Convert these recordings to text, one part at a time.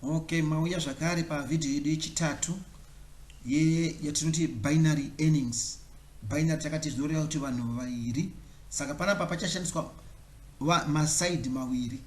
Ok mauya zvakare pa video yedu yechitatu ye yatinoti binary earnings. Binary takati zvinoreva kuti vanhu vaviri saka panapa pachashandiswa maside mawiri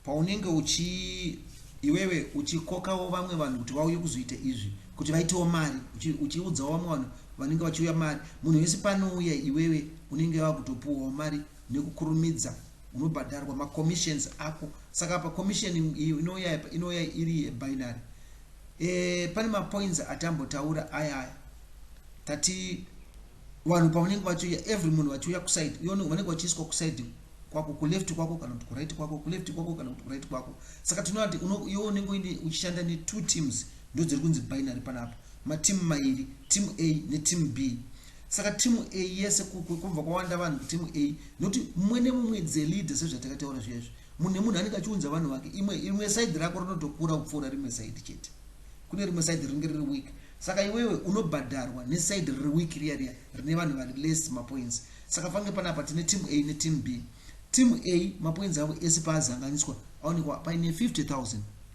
paunenge uchi iwewe uchikokawo vamwe vanhu kuti vauye kuzoita izvi kuti vaitewo mari uchiudzawo vamwe vanhu vanenge vachiuya mari munhu wese panouya iwewe unenge wakutopuwawo mari nekukurumidza unobhadharwa ma commissions ako saka apa commission inouya apa inouya iri binary eh pane ma points atambotaura aya aya tati vanhu pavanenge vachiuya every munhu vachiuya kuside uone vanenge vachiiswa kuside kwako kuleft kwako kana kuti kuright kwako kuleft kwako kana kuti kuright kwako saka tinoati iwe unenge uine uchishanda ne two teams ndodziri kunzi binary panapa mateam mairi team a neteam b Saka team A yese kubva kwawanda vanhu ku team A noti mumwe nemumwe is a leader sezvatakataura zviya izvi. Munhu nemunhu anenge achiunza vanhu vake. Imwe imwe side rako rinotokura kupfuura rimwe side chete. Kune rimwe side rinenge riri weak. Saka iwewe unobhadharwa ne side riri weak riya riya rine vanhu vari less ma points. Saka pange panapa tine team A ne team B. Team A ma points avo ese paazanganiswa aonekwa paine 50000.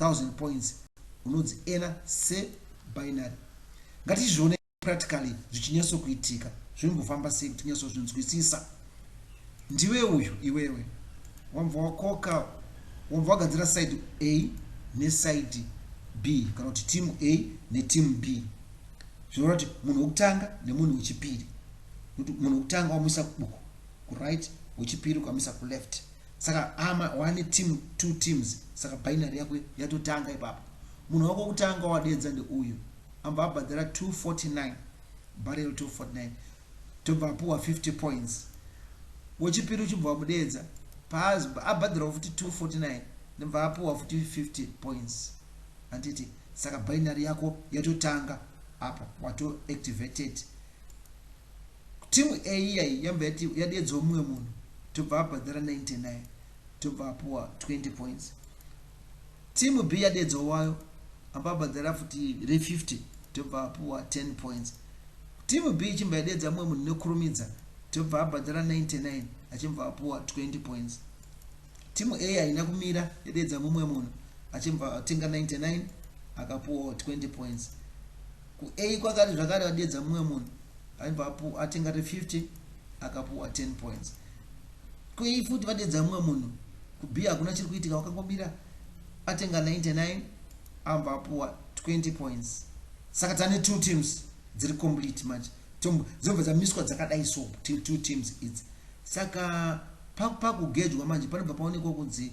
1000 points unonzi ena se binary ngatizvione practically zvichinyatso kuitika zvimbofamba sei kuti nyatso zvinzwisisa ndiwe uyu iwewe wambva wakoka wambva wagadzira side a neside b kana kuti team a neteam b zvinoreva kuti munhu wekutanga nemunhu wechipiri munhu wekutanga wamuisa kubuku kuright wechipiri ukamisa kuleft Saka hama wane team two teams saka binary yako yatotanga ipapo. Munhu wako wekutanga wawadedza ndeuyu ambva abhadhara 249 barrel 249 tobva apuwa 50 points. Wechipiri uchibva wamudeedza paabhadharawo futi 249 ndobva apuwa futi 50 points. Handiti saka binary yako yatotanga apa wato activated. Team A iya iyi yabva yati yadeedzwa mumwe munhu tobva abhadhara 99 tobva apuwa 20 points. Team B yadeedzwa wayo amba abhadhara futi re 50 tobva apuwa 10 points. Team B ichimva yadeedza mumwe munhu nekurumidza tobva abhadhara 99 achimva apuwa 20 points. Team A haina kumira yadeedza mumwe munhu achimva atenga 99 akapuwa 20 points. Ku A kwakare zvakare vadeedza mumwe munhu aibva apu atenga re 50 akapuwa 10 points. Ku A futi vadeedza mumwe munhu ku B hakuna chiri kuitika wakangomira atenga 99 ambva apuwa 20 points. Saka tane two teams dziri complete manje Tom, dzobva dzamiswa dzakadai so two teams idzi. Saka pakugejwa manje panobva paonekwa kunzi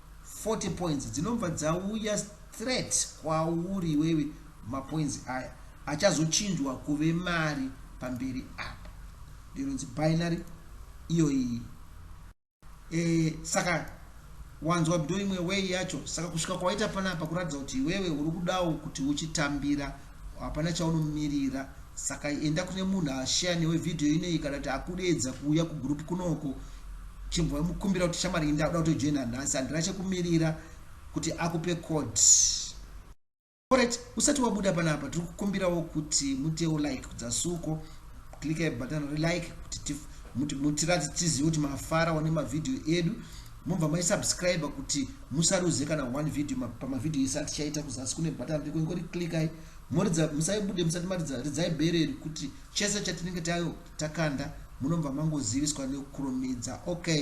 40 points dzinobva dzauya straight kwauri iwewe mapoints aya achazochinjwa kuve mari pamberi apa ndinonzi binary iyo iyi e, saka wanzwa bdo imwe way yacho saka kusvika kwawaita panapa kuratidza kuti iwewe uri kudawo kuti uchitambira Hapana chaunomirira saka enda kune munhu ashare newe video inei kana kuti akudeedza kuuya kugroup kunoko chimbomukumbira kuti shamwari ini ndakuda kutojoina nhasi handina chekumirira kuti akupe code Alright, usati wabuda panapa tiri kukumbirawo kuti mutewo like kudzasuko klika button relike kuti muti, muti, tizive kuti mafara one mavhidhiyo edu Mobva mai subscriber kuti musaruze kana one video pama video ese atichaita kuzasi kune button riko ingori clickai moridza musaibude musati maridza ridzai bere iri kuti chese chatinenge tayo takanda munobva mangoziviswa nekukurumidza okay